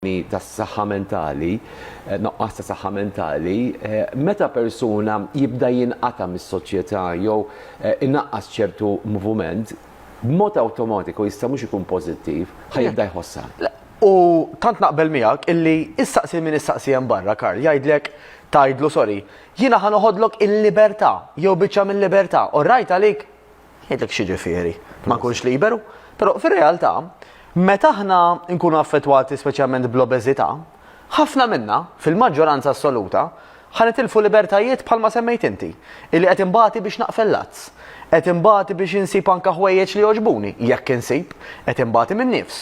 problemi tas-saħħa mentali, noqqas ta' saħħa mentali, meta persuna jibda jinqata' mis-soċjetà jew inaqqas ċertu movument, b'mod awtomatiku jista' mhux ikun pożittiv, ħa jibda jħossha. Le, u tant naqbel miegħek illi issaqsi lil min issaqsi hemm barra, Karl, jgħidlek, tgħidlu, sorry, jiena ħa noħodlok il-libertà, jew biċċa mil-libertà, orrajt għalik? Ngħidlek x'jiġifieri ma nkunx liberu, però fir-realtà meta aħna nkunu affettwati speċjalment bl-obeżità, ħafna minna, fil-maġġoranza assoluta, ħa nitilfu libertajiet bħalma semmejt inti, illi qed inbati biex naqfel l-għads, qed inbati biex insib anke ħwejjeġ li jogħġbuni, jekk insib, qed inbati min-nifs,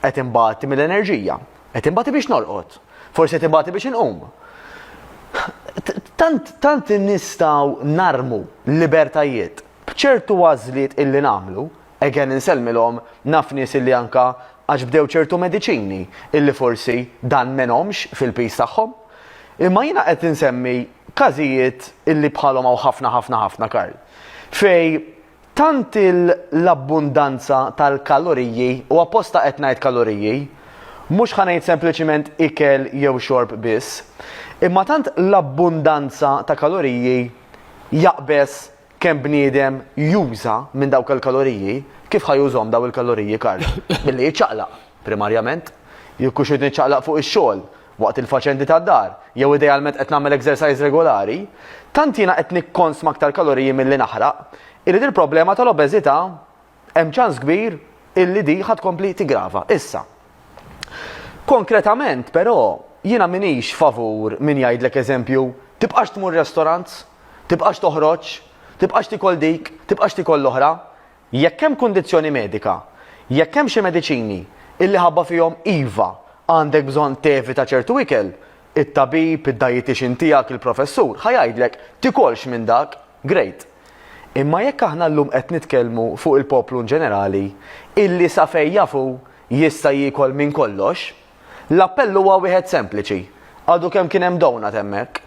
qed inbati mill-enerġija, Qed inbati biex norqod. Forsi qed inbati biex inqum. Tant, tant nistgħu narmu l-libertajiet b'ċertu għażliet illi nagħmlu, again insellmilhom naf nies illi anka għax bdew ċertu mediċini illi forsi dan m'għenhomx fil-piż tagħhom. Imma jiena qed insemmi każijiet illi bħalhom hawn ħafna ħafna ħafna Karl. Fejn Tant l-abbundanza tal-kaloriji, u apposta qed ngħid kaloriji, mhux ħa ngħid sempliċiment ikel jew xorb biss, imma tant l-abbundanza ta' kaloriji jaqbeż kemm bniedem juża minn dawk il-kaloriji, kif ħa jużhom dawn il-kaloriji Karl? Billi jiċċaqlaq, primarjament. Jekk hux irid niċċaqlaq fuq ix-xogħol. waqt il-faċendi tad-dar, jew idealment qed nagħmel exercise regulari, tant jiena qed nikkonsma aktar kaloriji milli naħraq, illi dil-problema tal-obeżità hemm ċans kbir illi di ħa tkompli tiggrava. Issa, konkretament però jiena minix favur min jgħidlek eżempju, tibqax tmur restaurants, tibqax toħroġ, tibqax tikol dik, tibqax tikol l-oħra, Jekk hemm kundizzjoni medika, jekk hemm xi mediċini illi ħabba fihom iva għandek bżonn tevita ċertu ikel, it-tabib, id-dietician tiegħek, il-professur ħa jgħidlek tikolx minn dak, great. Imma jekk aħna llum qed nitkellmu fuq il-poplu in ġenerali illi sa fejn jaf hu jista' jiekol minn kollox, l-appell huwa wieħed sempliċi, għadu kemm kien hemm donut hemmhekk.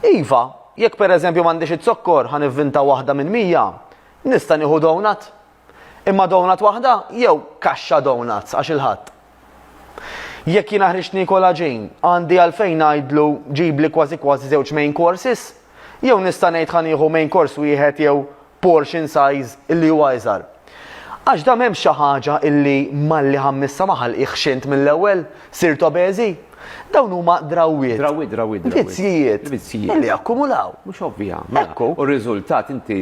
Iva, jekk pereżempju m'għandix iz-zokkor ħa nivvinta waħda minn mija, Nista' nieħu donut? Imma donut waħda jew kaxxa donuts għax il-Ħadd? Jekk jiena ħriġt niekol għaġin, għandi għalfejn ngħidlu ġibli kważi kważi żewġ main courses? Jew nista' ngħid ħa nieħu main course wieħed jew portion size illi huwa iżgħar? Għax da m'hemmx xi ħaġa illi malli ħammissa ma ħalqitx int mill-ewwel, sirt obeżi? Dawn huma drawwiet. Drawwiet, drawwiet, drawwiet. Vizzjijiet. Vizzjijiet. Illi akkumulaw. Mhux ovvja. Mela. Ekku. U r-riżultat inti.